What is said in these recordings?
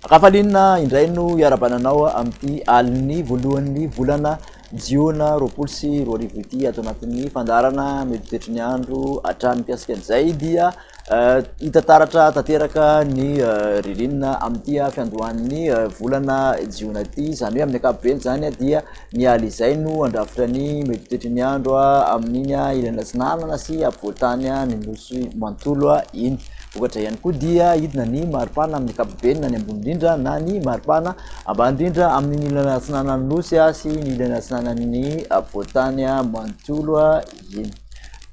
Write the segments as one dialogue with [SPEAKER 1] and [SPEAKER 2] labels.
[SPEAKER 1] Rafalinina indray no iarabana anao amin'ity alin'ny voalohan'ny volana jiona roapolo sy roa arivo ity ato anatin'ny fandaharana mety toetry ny andro hatrany mikasika an'izay dia Hita taratra tanteraka ny ririnina amin'ity fiandohan'ny volana jiona ity, izany hoe amin'ny ankapobeny izany dia ny alina izay no handrafitra ny mety ho toetry ny andro amin'iny ilany atsinanana sy afovoan-tany ny nosy manontolo iny. Vokatra ihany koa dia hidina ny maripana amin'ny ankapobeny na ny ambony indrindra na ny maripana ambany indrindra amin'ny ilany atsinanan'ny nosy sy ny ilany atsinanan'ny afovoan-tany manontolo. Eny.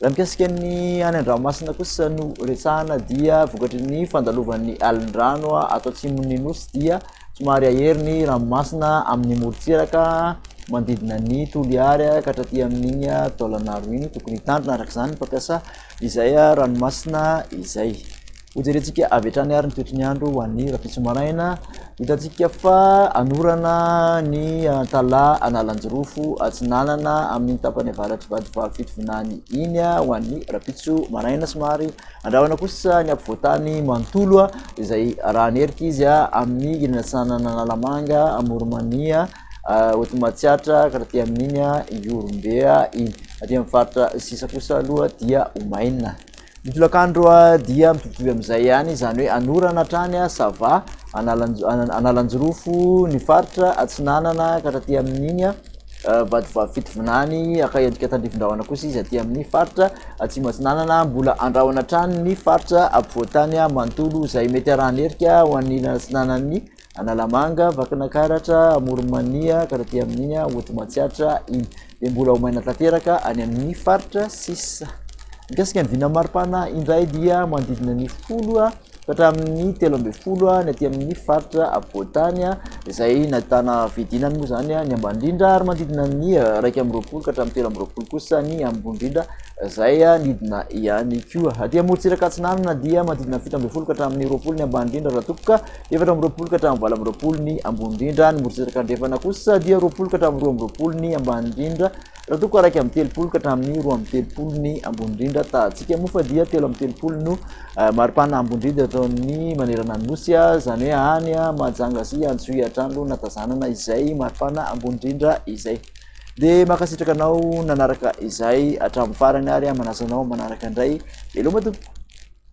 [SPEAKER 1] Raha mikasika ny any an-dranomasina kosa no resahana dia vokatry ny fandalovan'ny alin-drano ato atsimon'ny nosy dia somary ahery ny ranomasina amin'ny morontsiraka manodidina ny Toliary ka hatraty amin'iny taolanaro iny tokony hitandrina araka izany ny mpampiasa izay ranomasina izay. Hojerentsika avy hatrany ary ny toetry ny andro ho an'ny rahampitso maraina. Hitantsika fa hanorana ny Antala Analanjirofo Atsinanana amin'iny tapany avaratr'i Vadivavy Fitovinany iny ho an'ny rahampitso maraina. Somary andrahona kosa ny afovoan-tany manontolo izay arahan'ny erika izy amin'ny ilany atsinanana Analamanga, Amoronmania, Hotomatsiatra ka taty amin'iny Ihorombe iny. Aty amin'ny faritra sisa kosa aloha dia ho maina. Ny tolakandro dia mitovitovy amin'izay ihany, izany hoe anorana hatrany Sava, Analanjirofo, ny faritra atsinanana ka hatraty amin'iny Vatovavy Fitovinany, haka endrika tandrifindrahona kosa izy aty amin'ny faritra atsimo atsinanana, mbola andrahona hatrany ny faritra ampovoantany manontolo izay mety arahan'ny herika ho an'ilany atsinanan'ny Analamanga, Vakinakaratra, Amoron'i Mania, ka taty amin'iny Aoty Matsiatra iny. Dia mbola ho maina tanteraka any amin'ny faritra sisa. Mikasika ny vinan'ny maripana indray dia manodidina ny folo ka hatramin'ny telo ambin'ny folo ny aty amin'ny faritra apovoan-tany izay nahitana fidinany moa izany ny ambany indrindra ary manodidina ny iraika amin'ny roapolo ka hatramin'ny telo amin'ny roapolo kosa ny ambony indrindra izay nidina ihany koa. Aty Amorontsiraka Atsinanana dia manodidina ny fito ambin'ny folo ka hatramin'ny roapolo ny ambany indrindra raha tompka. Efatra amby roapolo ka hatramin'ny valo amby roapolo ny ambony indrindra, ny morontsiraka andrefana kosa dia roapolo ka hatramin'ny roa amby roapolo ny ambany indrindra, raha toa ka iraika amby telopolo ka hatramin'ny roa amby telopolo ny ambony indrindra. Tahantsika moa fa dia telo amby telopolo no eh, maripana ambony indrindra eto amin'ny manerana ny nosy, ah, izany hoe any ah, Mahajanga sy Antsohihy hatrany no natazanana izay maripana ambony indrindra izay. Dia mankasitraka anao nanaraka izay hatramin'ny farany ary ah, manasa anao manaraka indray. Veloma tompoko!